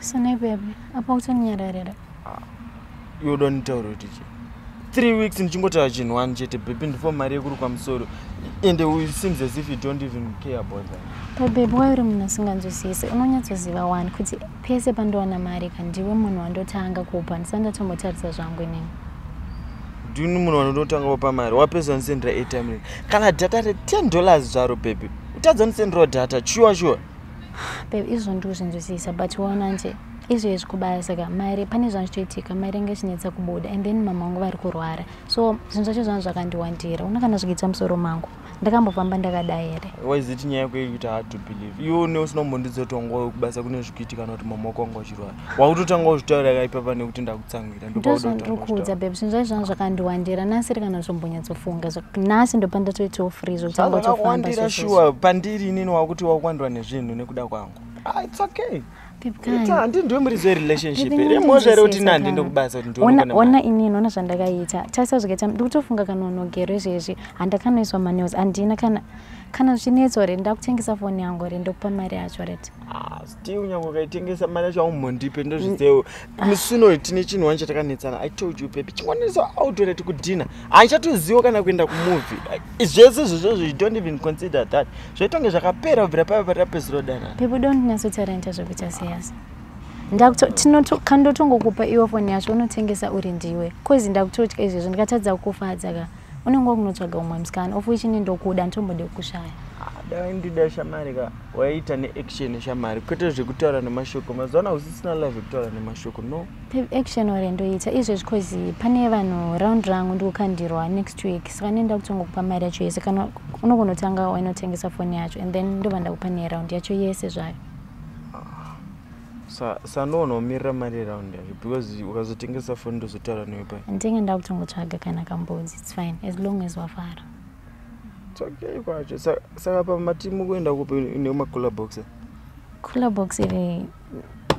Sine baby, apa uchanyararira. Ah, you don't tell her teacher. Three weeks ndichingotaura chinhu one chete baby ndipo mari yekuri kwamusoro and it seems as if you don't even care about that. But baby why uri munhu asinganzwisise unonyatsoziva wani kuti pese pandowana mari ka ndiwe munhu wandotanga kupa ndisati ndatombotarisa zvangu inini. Ndini munhu wandotanga kupa mari wapesa wandisendera airtime kana data re 10 dollars zvaro baby utadza ndisenderawo data shuwa shuwa. Babe, izvo ndikuzvinzwisisa but waona nje izvo izvi kubaya saka maire pane zvanhu zvitoitika maire anga ichinetsa kubuda and then mama wangu vari kurwara so zvinhu zvacho zvanhu zvakandiwandira una kana zvikuitsa musoro mangu ndakambofamba ndakadai here waiziti nyaya yekuita hard to believe iwe une usinombondizotongowe kubasa kune zvikuitika kana kuti mama wako wanga uchirwara wakutotanga kuzvitaura ka ipapa nekuti ndakutsamwira ndozvandikuudza beb zvinhu zvacho zvanga zvakandiwandira nasi ri kana zvombonyatsofunga nasi ndopa ndatoitawo free zvokutangawandira shuwa pandiri inini wakuti wakuwandirwa nezvinhu nekuda kwangu ah, it's okay ona inini ona zvandakaita tarisa zvakaita ndikutofunga kana unogero izvezvi handakanoiswa manews handina kana kana zvichinetso hre ndakutengesa foni yangu hre ndokupa mari yacho rete ti unyanga ukaitengesa mari yacho aumhondipe ndozvizewo mm. musi unoyu tine chinhu wani chatakanetsana i told you baby chingwanisa autora tikudhina handichatoziwo kana kuenda kumovie zvese zvozvozvo you don't even consider that zvaitonge zvakapera kubvira paiva patapeziro danana people don't nyatsotarenta zvekuita seyasi ndakutokandotongokupa iwo foni yacho unotengesa uri ndiwe bcause ndakutotya izvezvo ndikatadza kukufadza ka unenge wakunotsvaga umwe musikana of which ini ndokuda nditombode kukushaya dai ndida shamari ka waiita neaction shamari kwete zvekutaura nemashoko mazivana usisina live ekutaura nemashoko no action ore ndoita izvezvi cause pane vanhu round rangu ndikukandirwa next week saka nenda kutongokupa mari yacho yese kana unogonotanga wainotengesa foni yacho and then ndova ndakupa neround yacho yese zvayo sandoona umirira mari around yacho because ukazotengesa foni ndozotaura newe pai ndenge ndakutongotsvaga kana kambodzi its fine as long as wafara its okay kwacho saka pamatimu kuenda kupi neumacooler box cooler box iri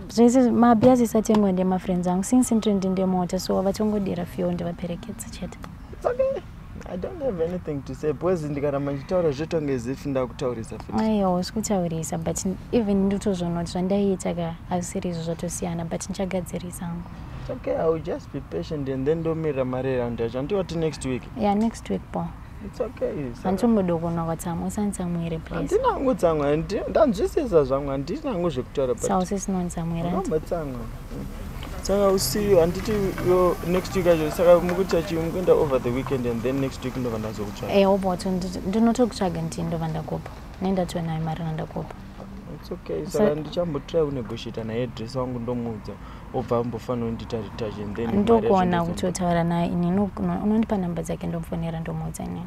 zvese mabia zisatengwa ndemafriends angu since ndiri ndindemota so vatongodira fio ndivaperekedza chete It's okay. I don't have anything to say because ndikaramba ndichitaura zvotonge zifi ndakutaurisa aiwa usi kutaurisa but even ndotozvona kuti zvandaiita ka azvisiri izvo zvatosiyana but ndichagadzirisa hangu okay i will just be patient and then ndomirira mari eround yacho andiwati next week yeah next week po handitombodokonwa kwatsamwa usanditsamwire pleasandinangu tsamwa ndanzwisisa zvamwa handinangu zvekutaura sausisinontsamwira saka usiyo handiti next week acho saka mukuti achi mukuenda over the weekend and then next week ndova ndazokutsvaga eh oboto ndinotokutsvaga ndii ndova ndakupa nendatiwe nayo mari nandakupa it's okay saka ndichambotry kunegotiata naye dress wangu ndomuudza obva ambofanira kundita retage and then ndokuona kuti otaura naye ini unondipa number dzake ndomufonera ndomuudza inini